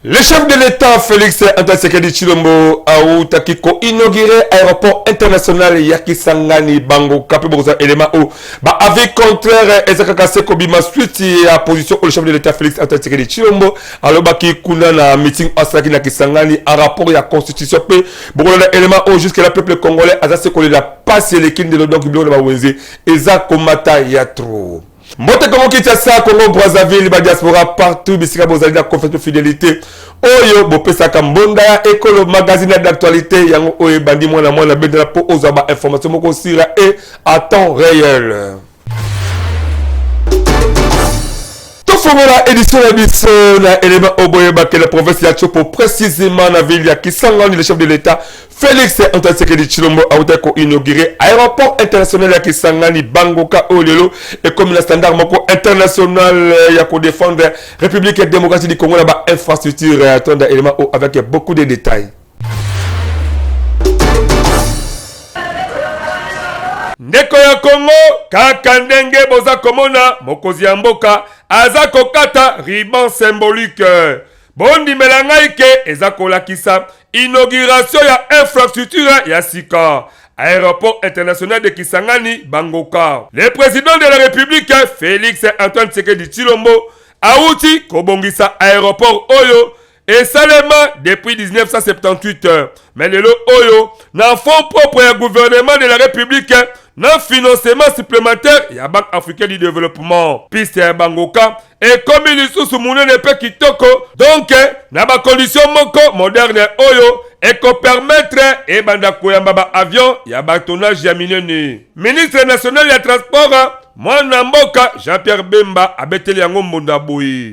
Le chef de l'État Félix Antasekedi Chilombo autaki koinaugure aéroport international ya Kisangani bango kape bokozala élément oyo ba avis contraire eza kaka se kobima suite ya position oyo le chef de l'État Félix Antasekedi Chilombo alobaki kuna na meeting asalaki na Kisangani en rapport ya constitution mpe bokolanda élément oyo jusque là peuple congolais aza se kolela pasi eleki ndelo donc biloko na bawenze eza komata ya trop mbote kongo kinshasa kongo brazzaville badiaspora partout bisika bozali na confiance mpe fidelité oyo bopesaka mbonda ya ekolo magazine ya d'actualité yango oyo ebandi mwana mwana bendela mpo ozwa bainformation moko osira e à temps réel tofongola édition na biso na elema oyo boyebaki na province ya chopo précisément na ville ya kisangani le chef de l'état félix antoine tshisekedi tshilombo autaki koinaugure aéroport international ya kisangani bangoka oyo lelo ekomi na standard moko international ya kodefendre république ya démocratie du congo na bainfrastructure tonda elema oyo avec beaucoup de détails ndeko ya kongo kaka ndenge boza komona mokozi ya mboka aza kokata riban symbolique bondimela ngai ke eza kolakisa inauguration ya infrastructure ya sika aéroport international de kisangani bangoka le président de la république félix antoine tshisekedi tshilombo awuti kobongisa aéroport oyo esalema depuis 1978 mais lelo oyo na fonds propre ya gouvernement de la république na financement supplémentaire ya banque africain du développement piste ya bangoka ekomi lisusu monene mpe kitoko donk na bakondition moko moderne oyo ekopermetre ebanda koyamba baavion ya batonnage ya minene ministre national ya transport mwana mboka jean-pierre bemba abeteli yango mbunda boye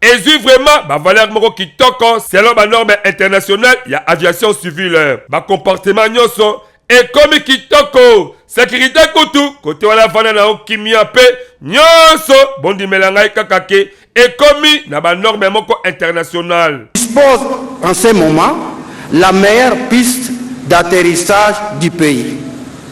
ezwi vraiment bavaleur moko kitoko selon banorme internationale ya aviation civile bacomportement nyonso ekomi kitoko sekirite kutu kote wana vanda na yo kimia mpe nyonso bondimela ngai kaka ke ekomi na banorme moko internationale dispose en ce moment la meilleure piste d'atterrissage du pays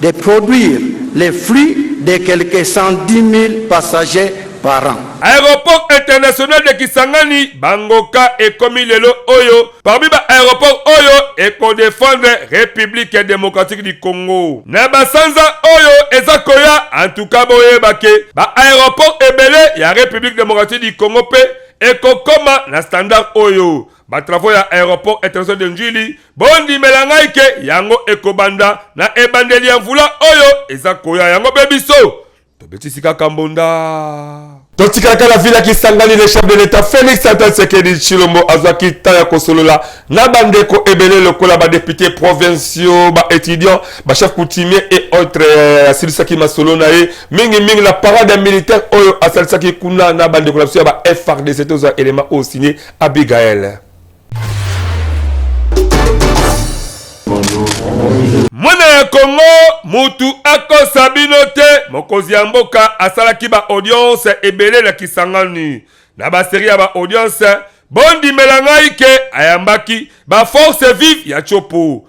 de produire les flux de quelques 110.000 passagers par an. Aeroport international de Kisangani, Bangoka, ekomi lelo oyo parmi ba aeroports oyo eko defendre Republique democratique du Congo na ba sanza oyo eza koya. En tout cas, boyeba ke ba aeroports ebele ya Republique democratique du Congo pe ekokoma na standard oyo. Ba travaux ya aeroport international de N'djili bondimela ngai ke yango ekobanda na ebandeli ya mvula oyo eza koya yango mpe biso tobetisi kaka mbonda totikalaka na vila kisangani le chef de l'état félix antoine sekedi chilombo azwaki ntan ya kosolola na bandeko ebele lokola badepute provinciaux baétudiant bachef coutumier et autres euh, asilisaki masolo na ye mingimingi na parade ya militaire oyo asalisaki kuna na bandeko na biso ya ba frdc tozwa élément oyo signe abigael mwana ya kongo mutu akosa bino te mokonzi ya mboka asalaki ba audience ebele na kisangani na baserie ya ba audience bondimela ngai ke ayambaki ba force vive ya chopo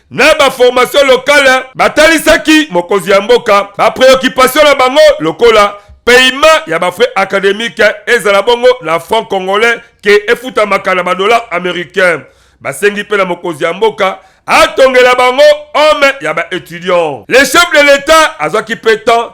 na ba formation locale batalisaki mokonzi ya mboka ba preoccupation na bango lokola paiement ya ba frais académique ezala bongo na franc congolais ke efutamaka na ba dollar américain basengi mpe na mokonzi ya mboka atongela bango homme ya ba étudiant le chef de l'état azwaki mpe temps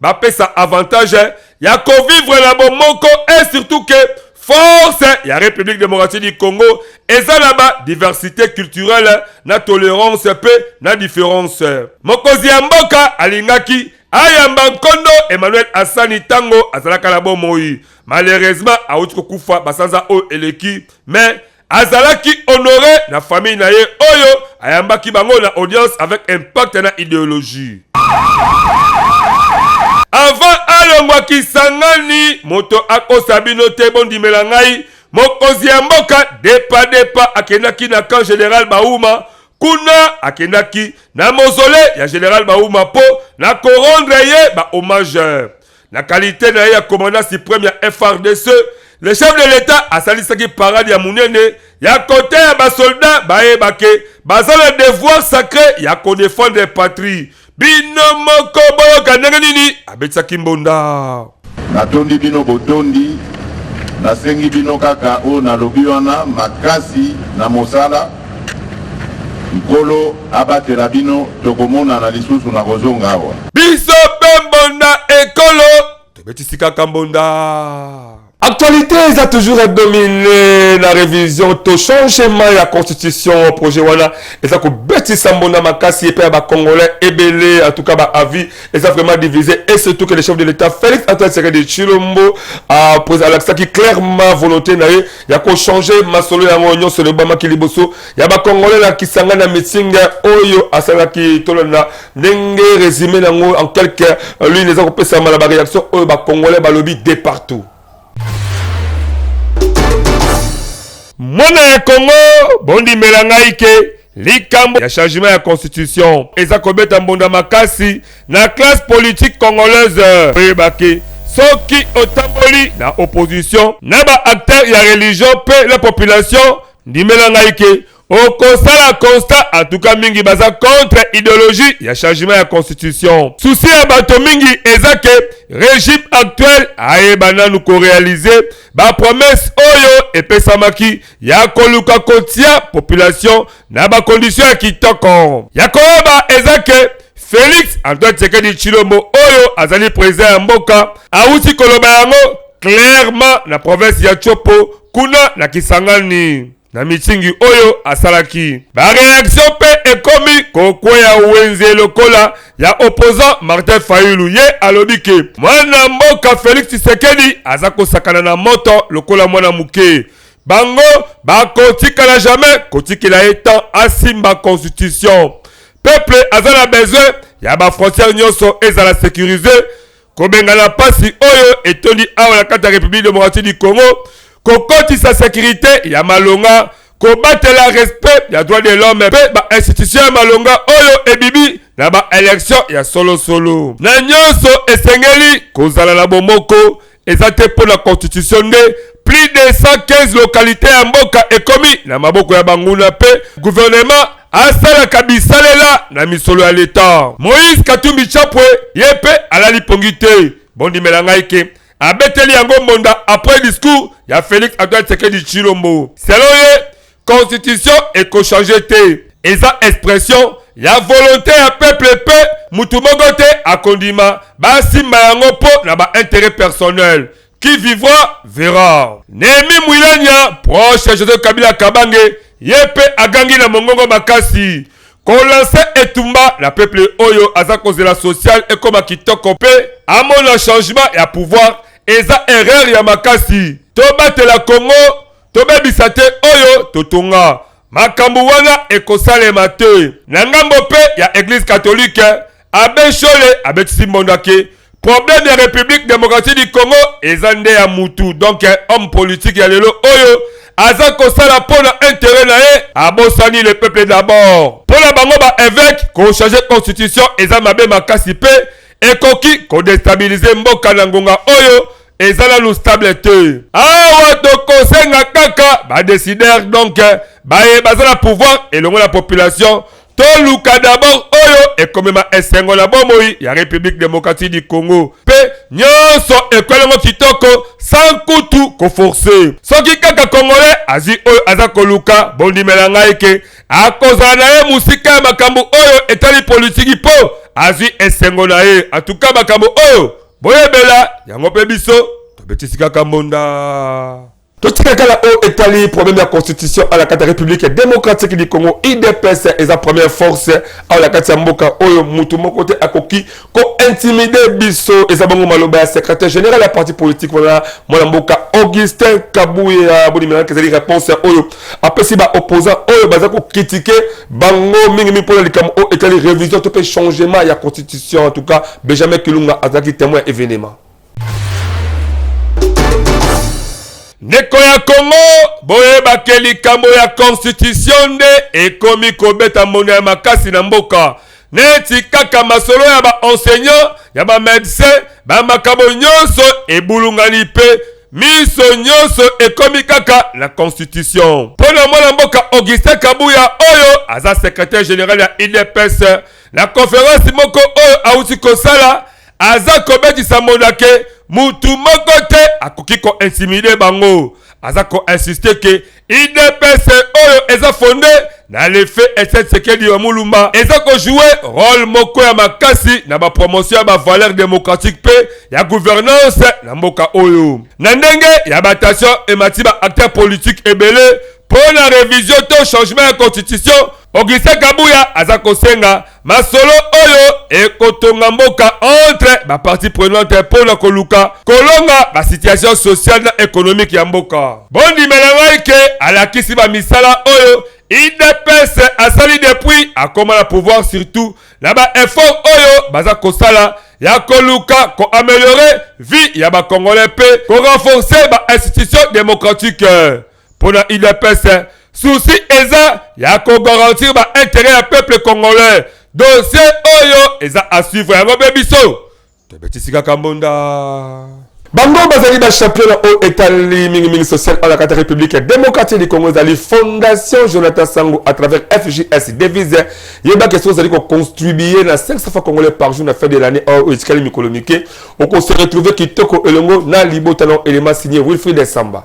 bapesa avantage ya kovivre na bomoko e surtout ke force ya république démocratique du congo eza na badiversité culturelle na tolérance mpe na différence mokonzi ya mboka alingaki ayamba nkondo emmanuel asani ntango azalaka na bomoi malheureusement auti kokufa basanza oyo eleki mais azalaki honore na famille na ye oyo ayambaki bango na audience avec impact na ideologie avant alongwa kisangani moto akosa bino te bondimela ngai mokonzi ya mboka depa depa akendaki na camp general bauma kuna akendaki na mozole ya general bauma mpo na korondre ye ba hommage Na qualite na ye ya commandant supreme ya FRDC, le chef de l'Etat asalisaki parade ya munene ya kote ya basolda bayeba ke baza na devoir sacre ya kodefendre patrie. Bino moko boyoka ndenge nini abetisaki mbonda. Natondi bino botondi, nasengi bino kaka oyo nalobi wana makasi na mosala. Nkolo abatela bino tokomonana lisusu na kozonga awa. Biso pe mbonda ekolo tobetisi kaka mbonda. Actualite eza toujours domine na revision to changement ya constitution projet wana eza kobetisa mbonda makasi epai ya bacongolais ebele en tout cas ba avis eza vraiment divise et surtout que le chef de l'état félix antoine tshisekedi tshilombo alakisaki clairement volonté na ye ya kochange masolo yango nyonso elobamaki liboso ya bakongole na kisangani ya meeting oyo asalaki tolanda ndenge resume nango en quelque lune eza kopesama na bareaction oyo bakongole balobi de partout mwana ya kongo bondimela ngai ke Likambo ya changement ya constitution eza kobeta mbonda makasi na classe politique congolaise. Oyebaki soki otamboli na opposition na ba acteurs ya religion pe la population, ndimela ngai ke okosala constat atuka mingi baza contre ideologie ya changement ya constitution. Souci ya bato mingi eza ke regime actuel ayeba nanu korealize bapromesse oyo epesamaki ya koluka kotia population na ba condition ya kitoko ya koyeba eza ke Felix Antoine Tshisekedi Tshilombo oyo azali president ya mboka awuti koloba yango clairement na province ya Tshopo kuna na Kisangani na mitingi oyo asalaki bareaktio mpe ekomi kokweya wenze lokola ya opposant martin fayulu ye alobi ke mwana mboka felix tshisekedi aza kosakana na moto lokola mwana moke bango bakotikala jamais kotikela ye temps asimba constitution peuple aza na besoin ya bafrontière nyonso ezala sécurise kobengana mpasi oyo etondi awa na kati ya république démocratique du congo kokotisa sécurité ya malonga kobatela respect ya droit de l'homme mpe bainstitution ya malonga oyo ebibi na baelektio ya solosolo na nyonso esengeli kozala na bomoko eza te mpo na constitution nde plus de 115 lokalite ya mboka ekomi na maboko ya banguna mpe guvernema asalaka bisalela na misolo ya leta moïse katumbi chapwe ye mpe alali pongi te bondimela ngai ke abeteli yango mbonda après discours ya félix antoine tshisekedi tshilombo selon ye constitution ekochange te eza expression ya volonte ya peuple mpe motu moko te akondima basimba yango mpo na bainteret personnel qui vivra verra nehemi mwilanya proche ya joseph kabila kabange ye mpe agangi na mongongo makasi kolanse etumba na peuple oyo aza kozela social ekoma kitoko mpe amona changement ya pouvoir eza erreur ya makasi tobatela congo Tobebisa te oyo totonga. Makambo wana ekosalema te. Na ngambo mpe ya Eglise catholique, Abbe Nshole abetisi mbondo ake problème ya République démocratique du Congo eza nde ya mutu donc homme politique ya lelo oyo aza kosala mpo na intérêt na ye abosani le peuple d'abord mpo na bango ba évêque kochange constitution eza mabe makasi mpe ekoki kodestabilize mboka na ngonga oyo eza nanu stable te awa tokosenga kaka badesider donc eh, baye baza na pouvoir elongo na population toluka dabord oyo ekomema esengo na bomoi ya république démocratie du congo mpe nyonso ekwelango kitoko sans kutu koforce soki kaka congolais azwi oyo aza koluka bondimela ngai ke akozala na ye mosika ya makambo oyo etali politiki mpo azwi esengo na ye atuka makambo oyo boyebela yango mpe biso tobetisi kaka mbonda totika kala oyo etali problème ya constitution à la kati ya république démocratique du congo idps eza première force awa na kati ya mboka oyo motu moko te akoki kointimide biso eza bongo maloba ya secrétaire général ya parti politique wana mwana mboka augustin kabuya bonimelaka ezali réponse oyo apesi ba opposants oyo baza kokritike bango mingi mingi mpona likambo oyo etali révision to mpe changement ya constitution en tout cas benjamin kilunga azalaki témoin ya événement ndeko ya kongo boyeba ke likambo ya constitution nde ekomi kobeta mbonda ya makasi na mboka neti kaka masolo ya ba enseignant ya ba medecin ba makambo nyonso ebulungani mpe miso nyonso ekomi kaka na constitution mpo na mwana mboka augustin kabuya oyo aza secretaire general ya idps na conference moko oyo awuti kosala aza kobetisa monake mutu moko te akoki kointimide bango aza koinsiste ke udps oyo eza fonde na lefe etienne sekedi ya mulumba eza kojoue role moko ya makasi na bapromotion ya bavaleur démocratique mpe ya gouvernance na mboka oyo na ndenge ya batation emati baacteur politique ebele mpo na revision to changement ya constitution augustin kabuya aza kosenga masolo oyo ekotonga mboka entre bapartie prenante mpo na koluka kolonga basituation sociale na ekonomike ya mboka. Bondimela ngai ke alakisi bamisala oyo udps asali depuis akoma na pouvoir surtout na ba efforts oyo baza kosala ya koluka ko ameliorer vie ya ba congolais mpe ko renforcer ba institutions democratiques. Mpo na udps souci eza ya ko garantir ba interet ya peuple congolais. Dossier oyo eza a suivre yango mpe biso tobetisi kaka mbunda. Bango bazali ba champion na oyo etali mingi mingi social awa na kati ya Republique democratique du Congo ezali Fondation Jonathan Sangu à travers FJS devise yeba ke soki ozali ko contribuer na 500 francs congolais par jour na fin de l'année oyo oh, etikali mikolo mike oko se retrouver kitoko elongo na libota na elema signé Wilfried Samba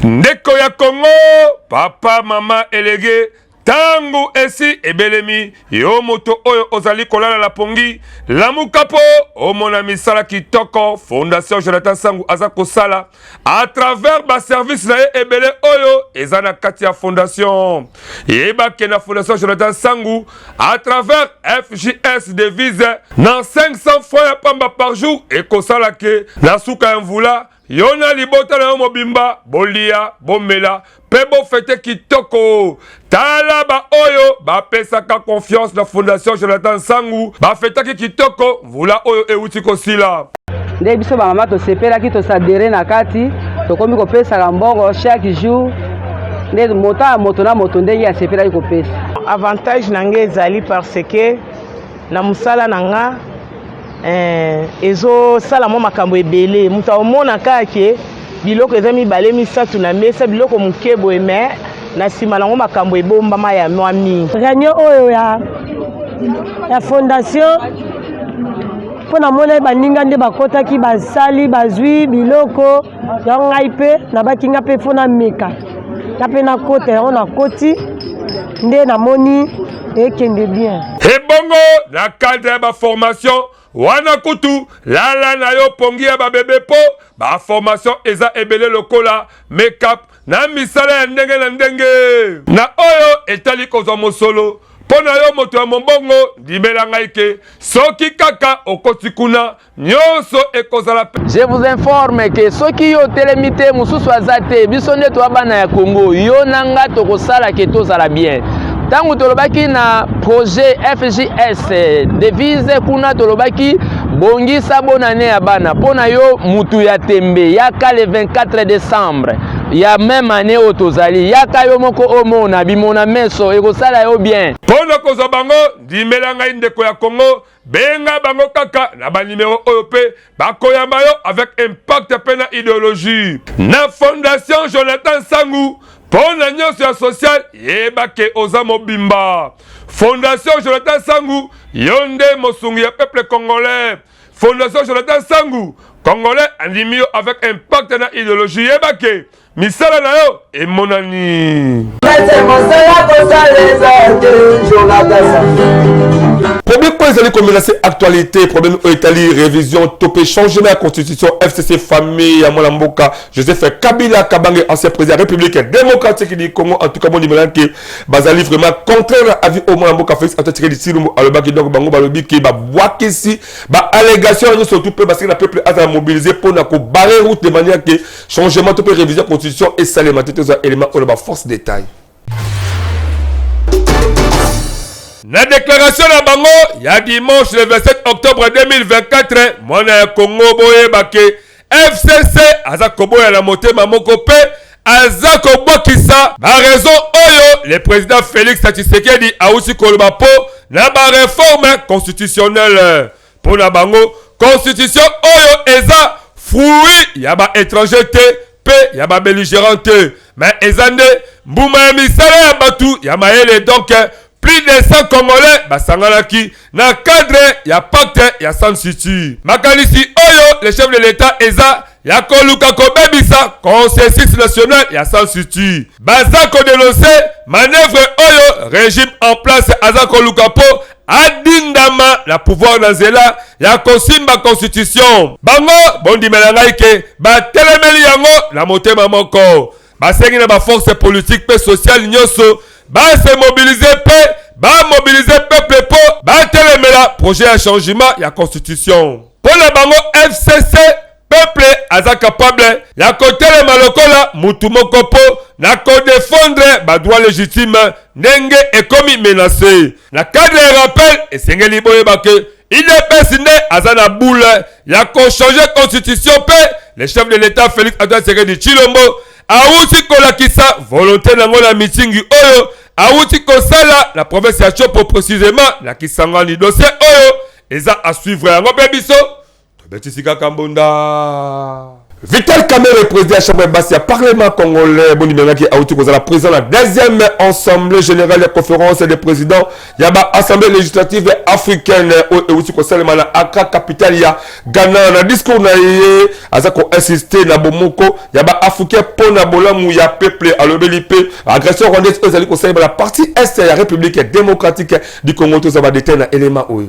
ndeko ya kongo papa mama elege ntango esi ebelemi yo moto oyo ozali kolala na pongi lamuka mpo omona misala kitoko fondation jonathan sangu aza kosala a travers baservice na ye ebele oyo eza na kati ya fondation yeba ke na fondation jonathan sangu à travers FJS devise na 500 fois ya pamba par jour ekosala ke na suka ya mvula yo na libota na yo mobimba bolia bomela mpe bofete kitoko tala baoyo bapesaka confiance na fondation jonathan nsangu bafetaki kitoko mvula oyo euti kosila. Nde biso bamama tosepelaki tosadere na kati, tokomi kopesaka mbongo chaque jour nde moto ya moto na moto ndenge asepelaki kopesa. Avantage na ngai ezali parce que na mosala na nga eh, ezosala mwa makambo ebele moto aomona kaka ke Biloko eza mibale misato na mesa, biloko moke boye me na nsima nango makambo ebombama ya mwa mingi. Reunion oyo ya, ya fondation mpo namonaki baninga nde bakotaki basali bazwi biloko yango ngai mpe nabaki ngai mpe mpo nameka nga mpe nakota yango nakoti nde namoni ekende bien ebongo na cadre ya baformation wana kutu lala na yo pongi ya babebe po baformation eza ebele lokola makeup na misala ya ndenge na ndenge na oyo etali kozwa mosolo mpo na yo moto ya mombongo ndimela ngai ke soki kaka okoti kuna nyonso ekozala je vous informe ke soki yo otelemi te mosusu aza te biso nde toya bana ya congo yo na nga tokosala ke tozala bien ntango tolobaki na projet fjs devise kuna tolobaki bongisa bonane ya bana mpo na yo mutu ya tembe yaka le 24 decembre ya meme année oyo tozali yaka yo moko omona bimona meso ekosala yo bien mpo na kozwa bango ndimela ngai ndeko ya congo benga bango kaka na banimero oyo mpe bakoyamba yo avec impact mpe na ideologie na fondation jonathan sangu mpo na nyonso ya social yeba ke oza mobimba fondation jonathan sangu yo nde mosungi ya peuple congolais fondation jonathan sangu congolais andimi yo avec impact na ideologie yeba ke misala na yo emonani problème oyo ezali komela se actualité problème oyo etali révision to mpe changement ya constitution fcc famille ya mwana mboka joseph kabila kabange ancien président ya république démocratique du congo en tout cas mondimela ke bazali vraiment contraire na avis oyo mwana mboka félix antoine tshisekedi tshilombo alobaki donc bango balobi ke babwakisi ba allégation nyonso tout mpe basili na peuple azala mobilise mpo na kobare route de manière ke changement to mpe révision constitution esalema te tozwa élément oyo na baforce détail na deklaratio na bango ya dimanche le 27 octobre 2024 mwana ya kongo boyeba ke fcc aza koboya na motema moko mpe aza kobwakisa barezo oyo le président félix tshisekedi auti koloba mpo na bareforme constitutionnelle Mpo na bango, constitution oyo eza fruit ya ba étrangers te mpe ya ba belligérants te, mais eza nde mbuma ya misala ya batu ya mayele donc plus de 100 congolais basanganaki na cadre ya pacte ya San Suu Kyi. Makanisi oyo le chef de l'Etat eza ya koluka kobebisa consensus national ya sansutu baza kodenonse manevre oyo regime en place aza koluka mpo adindama na pouvoir na nzela ya kosimba constitution bango bondimela ngai ke batelemeli yango na motema moko Basengi na ba forces politiques pe sociales nyoso ba se mobiliser pe ba mobiliser peuple po batelemela projet ya changement ya constitution. Po na bango FCC peuple aza capable ya kotelema lokola mutu moko po na ko defendre ba droits legitimes ndenge ekomi menace. Na cadre ya rappel esengeli boyeba que Udps nde aza na boule ya ko changer constitution pe le chef de l'etat Felix Antoine Tshisekedi Tshilombo awuti kolakisa volonte na ngo na mitingi oyo awuti kosala na province ya Tshopo precisement na Kisangani. Dossier oyo eza à suivre yango pe biso Tobetisi kaka mbunda. Vital Kamerhe, président ya chambre ya basi ya parlement congolais, bondimengaki auti kozala président na deuxième assemblée générale ya conférence des présidents ya ba assemblée législative africaine oyo euti kosalema na Accra, capitale ya Ghana. Na discours na ye aza koinsiste na bomoko ya ba africain mpo na bolamu ya peuple. Alobeli mpe agression rwandaise oyo ezali kosalema na partie est ya république démocratique du Congo. Tozwa ba detail na elema oyo.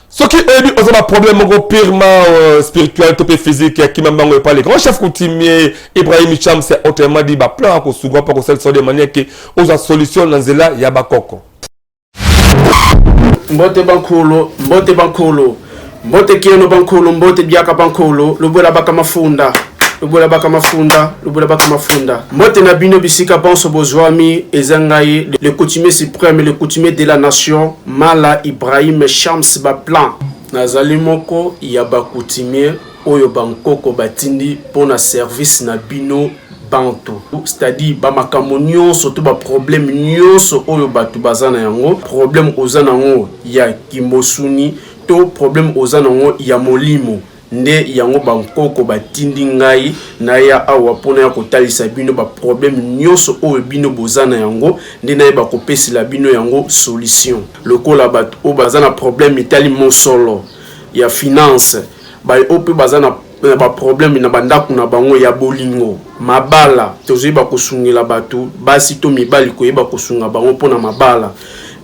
soki oyebi oza ba problème moko purement euh, spirituel to mpe physique ya kima mbango epa le grand chef coutumier ibrahim cham c'est autrement dit baplan akosuka mpo akosalisa de manière ke ozwa solution na nzela ya bakoko mbote bankolo mbote bankolo mbote keno bankolo mbote biaka bankolo lobwela baka mafunda lobola baka mafunda lobola baka mafunda mbote na bino bisika banso bozwami eza ngai le coutumier suprême le coutumier de la nation Mala Ibrahim Shams ba plan nazali moko ya ba coutumier oyo ba nkoko batindi mpo na service na bino bantu c'est-à-dire ba makambo nyonso to ba problème nyonso oyo bato baza na yango problème oza na yango ya kimosuni to problème oza na yango ya molimo nde yango bankoko batindi ngai naya awa mpo naya kotalisa bino baproblème nyonso oyo bino boza na yango nde nayeba kopesela bino yango solution lokola bato oyo baza na problème etali mosolo ya finance baye oyo mpe baza na na baproblème na bandako na bango ya bolingo mabala tozoyeba kosungela bato basi to mibali koyeba kosunga bango mpo na mabala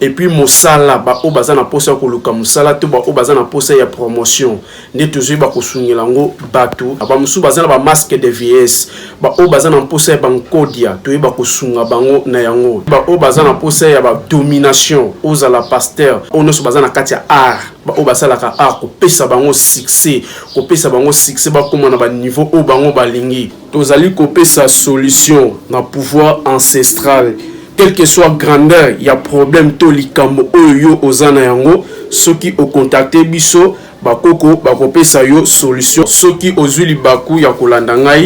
et puis mosala baoyo baza na mposa ya koluka mosala to baoyo baza na mposa ya promotion nde tozoyeba kosungela yango bato bamosusu baza na bamaske de vieillesse baoyo baza na mposa ya bankodia toyeba kosunga bango na yango baoyo baza na mposa ya badomination ozala paster oyo nyonso baza na kati ya art baoyo basalaka art kopesa bango succès kopesa bango succès bakóma na baniveau oyo bango balingi Tozali kopesa solution na pouvoir ancestral quel que soit grandeur ya problème to likambo oyo yo oza na yango soki o contacter biso ba koko bakopesa yo solution soki ozui libaku ya kolanda ngai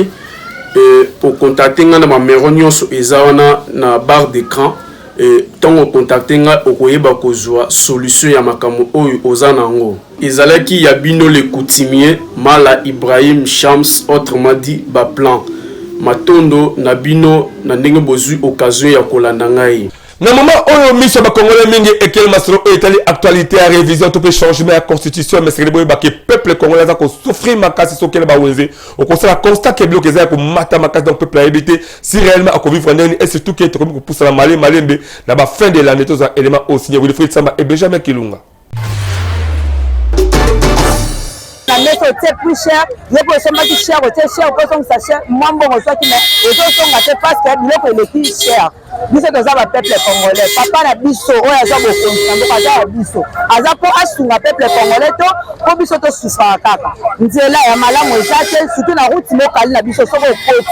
eh, o contacter ngai na mamero nyonso eza wana na barre d'écran eh, ntango o contacter ngai okoyeba kozwa solution ya makambo oyo oza na yango Ezalaki ya bino le coutumier Mala Ibrahim Shams autrement dit ba plan. Matondo na bino na ndenge bozui occasion ya kolanda ngai. Na moment oyo miso ya ba congolais mingi ekeli masolo oyo etali actualite ya revision to pe changement ya constitution mais sekele boyeba ke peuple congolais aza ko souffrir makasi soki okeli ba wenze okosala constat ke biloko eza ya komata makasi donc peuple ayebi te si reellement ako vivre ndenge nini et surtout ke tokomi kopusana male malembe na ba fin de l'annee tozwa element oyo signe Wilfried Samba et Benjamin Kilunga. na mesa otie plus cher yo mpe osombaki cher otie cher mpo osongisa cher mwa mbongo oswaki me ezosonga te parce que biloko eleki cher biso toza bapeuple congolais papa na biso oyo aza bokonzi na mboka aza ya biso aza mpo asunga peuple congolais to mpo biso tosufaka kaka nzela ya malamu eza te surtout na route mokali na biso soki okoti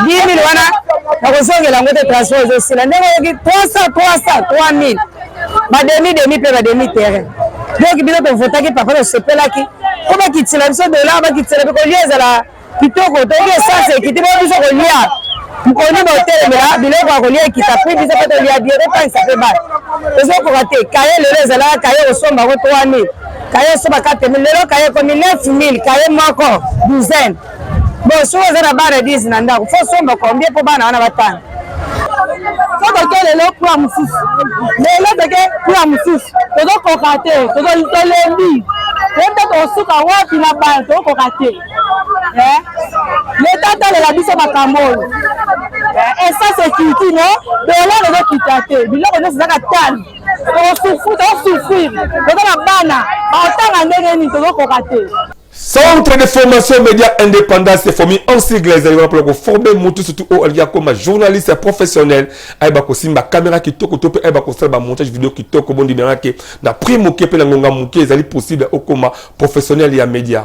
10.000 wana nakozongela yango te transport ezosila ndenge oyoki 300 300 3000 bademi demi mpe bademi terrain donc bino tovotaki papa tosepelaki mpo bakitila biso dolar bakitila mpe kolia ezala kitoko toyoki esanse ekiti mpo biso kolia mponi botelemela biloko ya kolia ekita mpe biso mpe tolia bie totangisa mpe bana tozokoka te kaye lelo ezalaka kaye osomba yango 3000 kaye osomba 4000 lelo kaye ekomi 9000 kaye moko douzaine Bon, soki oza na bana 10 na ndako, fo somba combien mpo bana wana batanga? Fo toke lelo kura mosusu, lelo toke kura mosusu, tozokoka te, tolembi toyebi tokosuka wapi na bana, tokokoka te. Eh? Leta atalela biso makambo oyo eh, essence ekiti no dolare ezokita te biloko nyonso ezaka tani tokosufrire toza na bana baotanga ndenge nini tozokoka te Centre de formation média indépendant se forme en sigle ezali wana mpona koforme motu surtout oyo alingi akoma journaliste ya professionnel ayeba kosimba kamera kitoko to mpe ayeba kosala bamontage video kitoko bondimela ke na prix moke mpe na ngonga moke ezali possible okoma professionnel ya média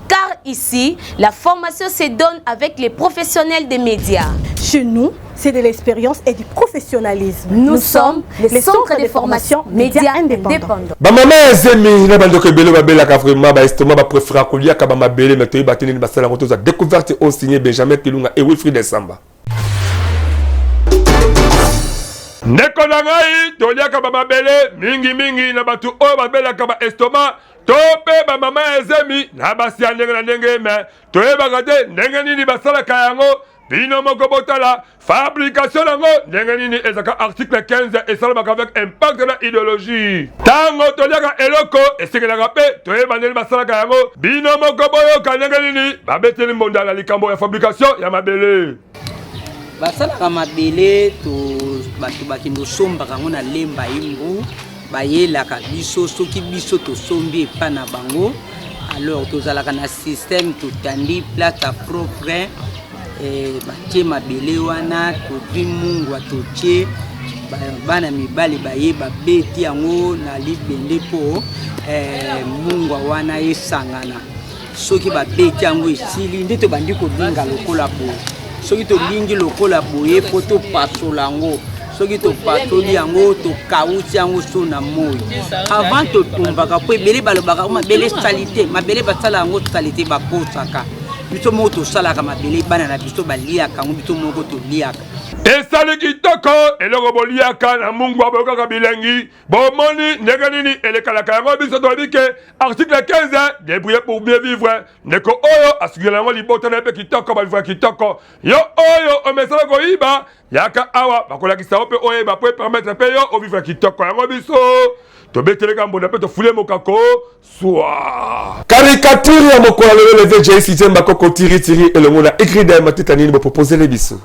Car ici, la formation se donne avec les professionnels des médias. Chez nous, c'est de l'expérience et du professionnalisme. Nous, Nous sommes les, les centres, centres de, de formation médias indépendants. bamama ya zemi na bandeko ebele babelaka vraiment baestoma bapréféra koliaka bamabele me toyeba te nini basala yango toza découverte oyo signe benjamin kilunga e wilfrid esamba ndeko na ngai toliaka bamabele mingimingi na bato oyo babelaka baestoma to mpe bamama ya zemi na basi ya ndenge na ndenge me toyebaka te ndenge nini basalaka yango bino moko botala fabrication yango ndenge nini ezalaka article 15 esalamaka avec impact na ideologie ntango toliaka eloko esengelaka mpe toyeba ndeni basalaka yango bino moko boyoka ndenge nini babeteli mbonda na likambo ya fabrication ya mabele basalaka mabele to bato bakende osombaka yango na lemba ye mbu bayelaka biso soki biso tosombi epa na bango alors tozalaka na système totandi place ya propre eh, batie mabele wana totwi mungwa totie bana mibali baye babeti yango na libende mpo eh, mungwa wana esangana soki babeti yango esili nde tobandi kolinga lokola boye soki tolingi lokola boye mpo topasola yango soki topatoli yango tokauti yango so na moi avant totumbaka mpo ebele balobaka oh, mabele salite mabele basala yango salite bakosaka biso moko tosalaka mabele bana na biso baliaka yango biso moko toliaka esali kitoko eloko boliaka na mungwa boyokaka bilengi bomoni ndenge nini elekalaka yango biso toyebi ke article 15 debrouiller pour bien vivre ndeko oyo asukela yango libota na ye mpe kitoko balivra kitoko yo oyo omesana koyiba yaka awa bakolakisa yo mpe oyeba mpo epermetre mpe yo ovivre kitoko yango biso tobeteleka mbonda mpe tofule mokako Soir. Caricature ya mokolo ya lelo leve JC Jemba Koko Tiri Tiri elongo na Egrida ya matita nini bopropozele biso.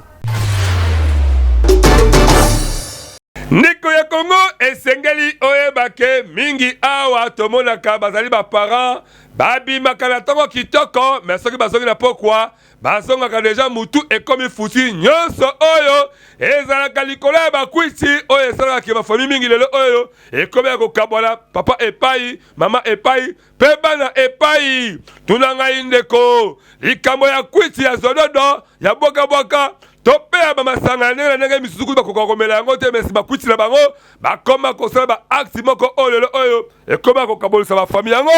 ndeko ya kongo esengeli oyeba ke mingi awa tomonaka bazali baparent babimaka na ntongo kitoko me soki bazongi na pokwa bazongaka deja mutu ekomi futi nyonso oyo ezalaka likolo ya bakwiti oyo esalaka ke bafami mingi lelo oyo ekomi ya kokabwana papa epai mama epai mpe bana epai tuna ngai ndeko likambo ya kwiti ya zododo ya bwakabwaka to mpe ya bamasanga ya ndenge na ndenge misusu kutu bakoka komela yango te mesi bakwiti na bango bakoma kosala baakti moko oyo lelo oyo ekomi ya kokabolisa bafami yango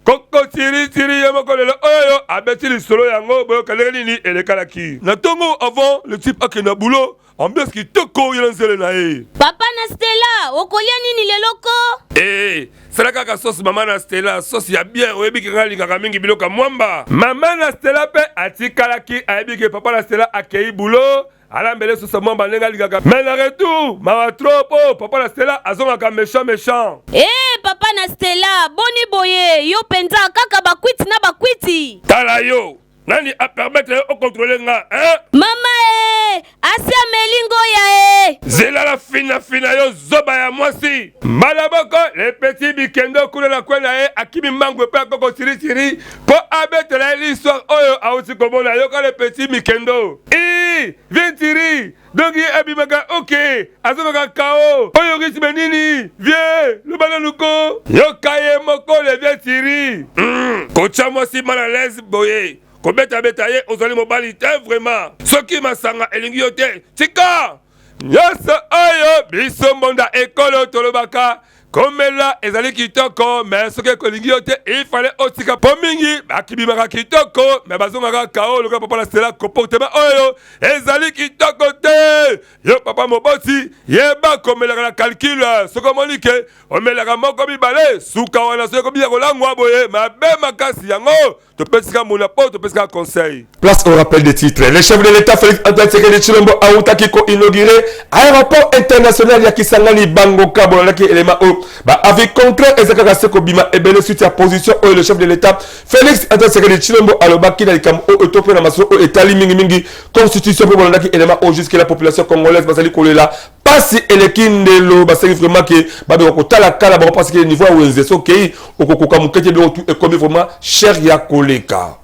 koko tiritiri ye moko lelo oyo abeti lisolo yango boyoka ndenge nini elekalaki na ntongo avant le type akenda bulo ambiance kitoko ye na nzele na ye papa na stela okolia nini lelo ko ee sala kaka sosi mama na stela sosi ya bien oyebi ke ngai alingaka mingi biloko ya mwamba mama na stela mpe atikalaki ayebi ke papa na stela akei bulo ala mbele susa mwamba ndenge alingaka mais na retour mawa trop po oh, papa na stela azongaka méchant méchant hey, eh, papa na stela boni boye yo mpenza kaka bakwiti na bakwiti tala yo nani apermettre yo okontrole nga eh? mama e eh, asi ameli ngoya e eh. zelala finafina yo zoba ya mwasi mbala moko lepeti bikendo kuna na kwe na ye akimi mango epai akoko sirisiri mpo abetela ye liswa oyo auti komona yoka le petit mikendo i ventiri donc ye abimaka oke azokaka kao oyo ritme nini vie loba nanu ko yoka ye moko le ventiri mm. kotya mwasi mal à l'aise boye kobetabeta ye ozali mobali te vraiment soki masanga elingi yo te tika nyonso oyo biso mbonda ekolo tolobaka komela ezali kitoko me soki ekolingi yo te ifale otika mpo mingi bakibimaka kitoko me bazongaka kao lokola papa na stela comportema oyo ezali kitoko te yo papa moboti yeba komelaka na calcule soki omoni ke omelaka moko mibale suka wana soki ekomi ya kolangwa boye mabe makasi yango topesi ka mola po topesi ka conseil place au rappel des titres le chef de l'état félix antoine sekedi tshilombo awutaki koinaugure aéroport international ya kisangani bango ka bolandaki elema oyo baavis concret eza kaka se kobima ebele suite ya position oyo le chef de l'état félix antoine sekedi tshilombo alobaki na likambo oyo to mpe na masolo oyo etali mingimingi constitution mpe bolandaki elema oyo jusque la population congolaise bazali kolela pasi eleki ndelo baseki vraiment ke babeka kotala kala bango parce que niveau ya wenze sokei okokoka moke te biloko tu ekomi vraiment cher ya koleka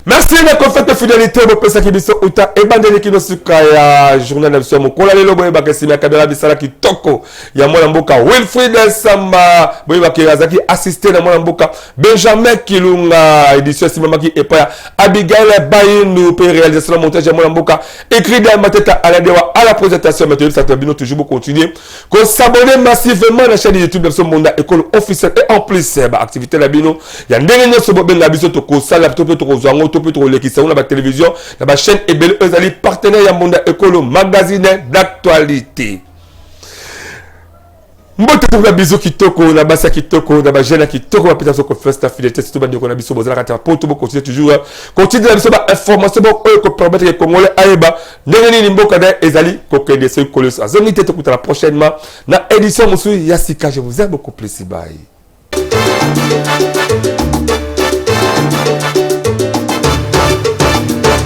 merci ndeko fete fidélité bopesaki biso uta ebandeli kino suka ya journal na biso ya mokola lelo boyebaka esima ya kabela bisala kitoko ya mwana mboka wilfrid samba boyebaka azalaki assiste na mwana mboka benjamin kilunga édition esimamaki epai ya abigaile baindu mpe réalisation na montage ya mwana mboka écrit de mateta aladewa à la présentation mais toyebisa to bino toujours bocontinue kosabone massivement na chaîne youtube na biso monda ekolo officiel et en plus eh, baactivité na bino ya ndenge nyonso bobenga biso tokosala to mpe tokozwa yango to mpe tokolekisa yango na batélévision na bachaîne ebele oyo ezali partenaire ya monda ekolo magazine d'actualité mbote tokola bizu kitoko na basi ya kitoko na bajeune ya kitoko bapesa biso confiance na fidélité surtout bandeko na biso bozala kati ya poto bokontinue toujours hein. kotinda na biso bainformation moko oyo ekopermettre ke congolais ayeba ndenge nini mboka na ye ezali kokende soki koleso azongi te tokutana prochainement na édition mosusu ya sika je vous aime beaucoup plus bye